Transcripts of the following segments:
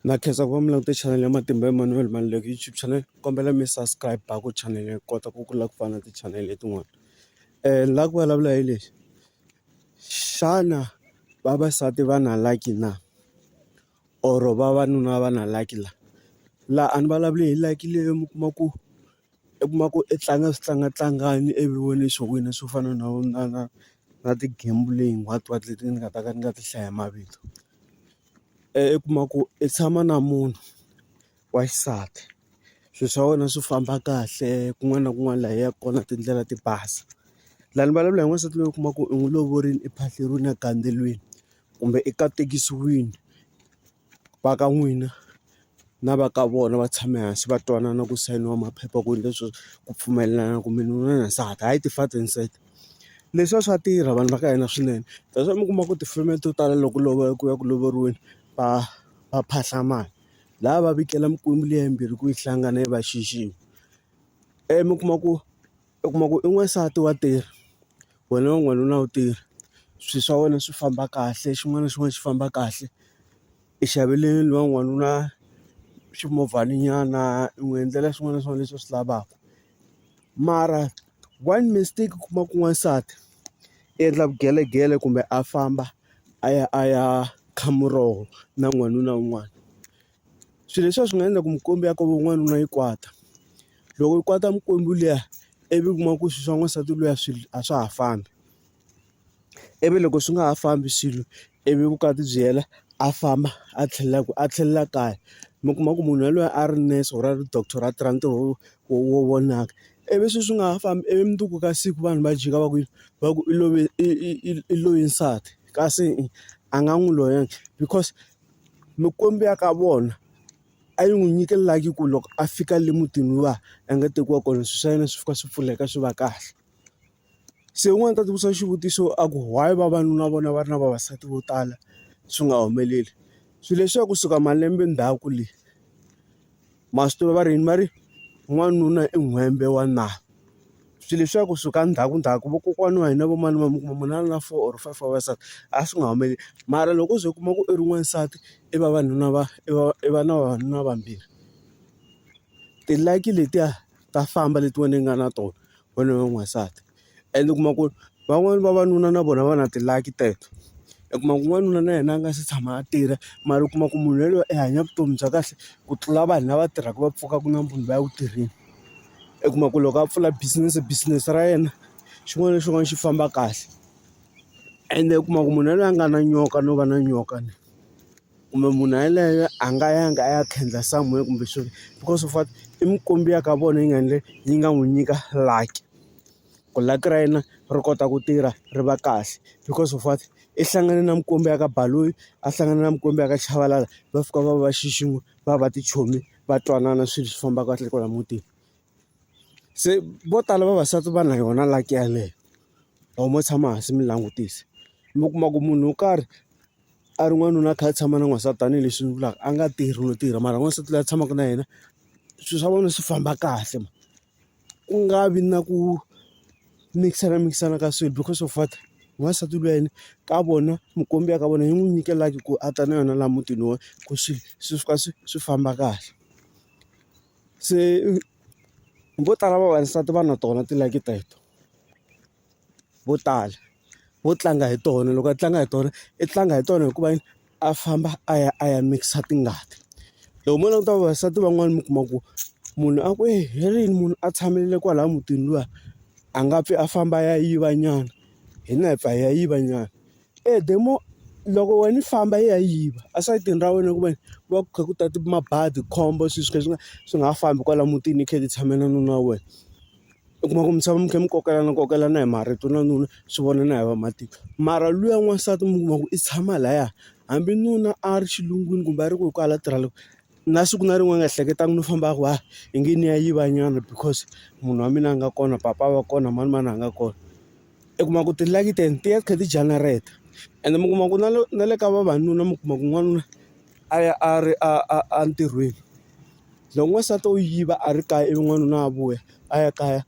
Na khensa ku va mi langute chanel ya Matimba Emmanuel Maluleke YouTube channel kombela mi subscribe a ku chanel yi kota ku kula ku fana na ti-channel letin'wana ni lava ku vulavula hi lexi xana vavasati va na lucky na or vavanuna va na lucky la laha a ni vulavuli hi lucky leyi mi kuma ku. i kuma ku i tlanga switlangatlangani ivi wena xo wina swo fana na na na na ti-gambling what what leti ni nga ta ka ni nga ti hlaya hi mavito i kuma ku i tshama na munhu wa xisati swilo swa wena swi famba kahle kun'wana na kun'wana laha i yaka kona tindlela ti basa laha ni vulavula hi n'wansati loyi u kuma ku u n'wi lovorile ephahleriwini a gandzeriwile kumbe i katekisiwile. va ka n'wina na va ka vona va tshame hansi va twanana ku sayiniwa maphepha ku endle sweswo ku pfumelelana ku mi nuna na nsati hayi ti-father and son. Leswiya swa tirha vanhu va ka hina swinene that's why mi kuma ku tifilimi to tala loko loko ku ya ku lovoriweni va va phahla mali laya va vikela mikwembu liya yimbirhi ku yi hlangana yi va xixima ivi mi kuma ku. u kuma ku i n'wansati wa tirha wena u n'wanuna wu tirha swilo swa wena swi famba kahle xin'wana na xin'wana xi famba kahle i xavele luya n'wanuna ximovhana nyana i n'wi endlela swin'wana na swin'wana leswi a swi lavaka mara one mistake u kuma ku n'wansati i endla vugelegele kumbe a famba a ya a ya kha muroho na n'wanuna un'wana. swilo leswiya swi nga endla ku mikwembu ya ka van'wana na yi kwata loko yi kwata mikwembu liya ivi u kuma ku swilo swa n'wansati luya swilo a swa ha fambi ivi loko swi nga ha fambi swilo ivi vukati byi hela a famba a tlhelela ku a tlhelela kaya mi kuma ku munhu yaloye a ri nurse or a ri doctor a tirha ntirho wo wo wo vonaka ivi swilo swi nga ha fambi ivi mundzuku ka siku vanhu va jika va ku yini va ku i love i i i i loyi nsati kasi a nga n'wi loyanga because Mikwembu ya ka vona a yi n'wi nyikelanga ku loko a fika le mutini luwa a nga tekiwa kona swilo swa yena swi fika swi pfuleka swi va kahle. Se un'wana u ta tisa xivutiso a ku why vavanuna va vona va ri na vavasati vo tala swi nga humeleli? Swilo leswiya kusuka malembe ndzhaku le. Ma swi tiva va ri va ri n'wanuna i n'hwembe wa nala. Swilo leswiya ku suka ndzhaku ndzhaku vakokwana wa hina va mani va mi kuma munhu a ri na four or five wa vavasati, a swi nga humeleli. Mara loko o ze u kuma ku i ri n'wansati, i vavanuna va i va i va na vavanuna vambirhi. Ti-lucky letiya ta famba leti wena i nga na tona. vana va n'wansati ende u kuma ku ri van'wani vavanuna na vona va na ti-lucky teto u kuma ku n'wanuna na yena a nga se tshama a tirha mara u kuma ku munhu yelweyo i hanya vutomi bya kahle ku tlula vanhu lava tirhaka va pfukaka nampundzu va ya ku tirheni u kuma ku loko a pfula business business ra yena xin'wana na xin'wana xi famba kahle ende u kuma ku munhu yelweyo a nga na nyoka no va na nyoka. kumbe munhu yaloye a nga yanga a ya khendla somewhere kumbe swilo because of what i mikwembu ya ka vona yi nga endle yi nga n'wi nyika lucky ku lucky ra yena ri kota ku tirha ri va kahle because of what i hlangane na mikwembu ya ka Baloyi a hlangana na mikwembu ya ka Chabalala va fika va va xixima va va tichomi va twanana swilo swi famba kahle kwala mutini se vo tala vavasati va na yona lucky yaleyo or mo tshama hansi mi langutisa mi kuma ku munhu wo karhi a ri n'wanuna a kha a tshama na n'wansati tanihileswi ni vulaka a nga tirhi no tirha mara n'wansati loyi a tshamaka na yena swilo swa vona swi famba kahle ku nga vi na ku mikisana mikisana ka swilo because of what n'wansati wa yena ka vona mukombi ya ka vona yi n'wi nyike like ku a ta na yona laha mutini wa ku swi swi suka swi swi famba kahle se vo tala vavasati va na tona ti-like teto. vo tala vo tlanga hi tona loko a tlanga hi tona i tlanga hi tona hikuva yini a famba a ya a ya mikisa tingati loko mo languta vavasati van'wani mi kuma ku munhu a ku eyi hi rini munhu a tshamile kwalaya mutini luya a nga pfi a famba a ya yiva nyana hina hi pfa hi ya yiva nyana e the more loko wena i famba i ya yiva esayitini ra wena hikuva ku va ku kha ku ta mabadi khombo swilo swo ka swi nga swi nga ha fambi kwala mutini i kha i titshamele nuna wa wena. u kuma ku misava mi kha mi kokelana kokelana hi marito na nuna swi vona na hi vamatiko mara luya n'wansati mi kuma ku i tshama laya hambi nuna a ri xilungwini kumbe a ri ku hi ku hala tirha loko na siku na rin'we a nga ehleketangi no famba a ku a hi nge ni ya yiva nyana because munhu wa mina a nga kona papa a va kona manimani a nga kona i kuma ku ti-lucky ten ti ya ti kha ti janareta ende mi kuma ku na na le ka vavanuna mi kuma ku n'wanuna a ya a ri a a a ntirhweni Loko n'wansati wo yiva a ri kaya ivi n'wanuna a vuya a ya kaya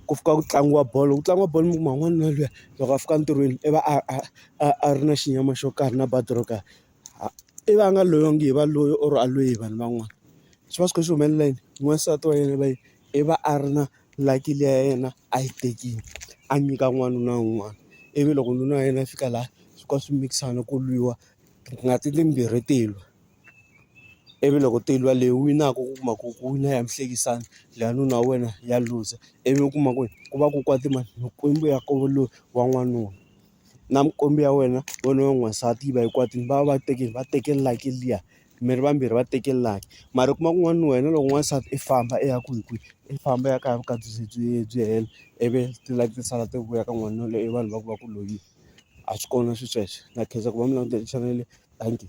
ku fika ku tlangiwa bolo loko ku tlangiwa bolo mi kuma n'wanuna luya loko a fika entirhweni i va a a a a ri na xinyama xo karhi na badi ro karhi i va a nga loyongi hi va loyi or a lweyi hi vanhu van'wana swi va swi kha swi humelela yini n'wansati wa yena va yini i va a ri na lucky liya ya yena a yi tekile a nyika n'wanuna un'wana ivi loko nuna wa yena a fika laha swi ka swi mikisana ku lwiwa ngati timbirhi ti lwa. ivi loko ti lwa leyi winaka u kuma ku ku wina ya mhlekisani leya nuna wa wena ya looser ivi u kuma ku ku va ku kwate mani mikwembu ya koho loyi wa n'wanuna na mikwembu ya wena wena wa n'wansati yi va yi kwatile va va teke va teke like liya mi ri vambirhi va teke like mara u kuma ku n'wana wa wena loko n'wansati i famba i ya kwihi kwihi i famba ya kaya vukati byi byi byi hela ivi ti-like ti sala ti vuya ka n'wanuna loyi i vanhu va ku va ku loyiwa. a swi kona sweswo na khensa ku va mi langutele chanel leyi thank you.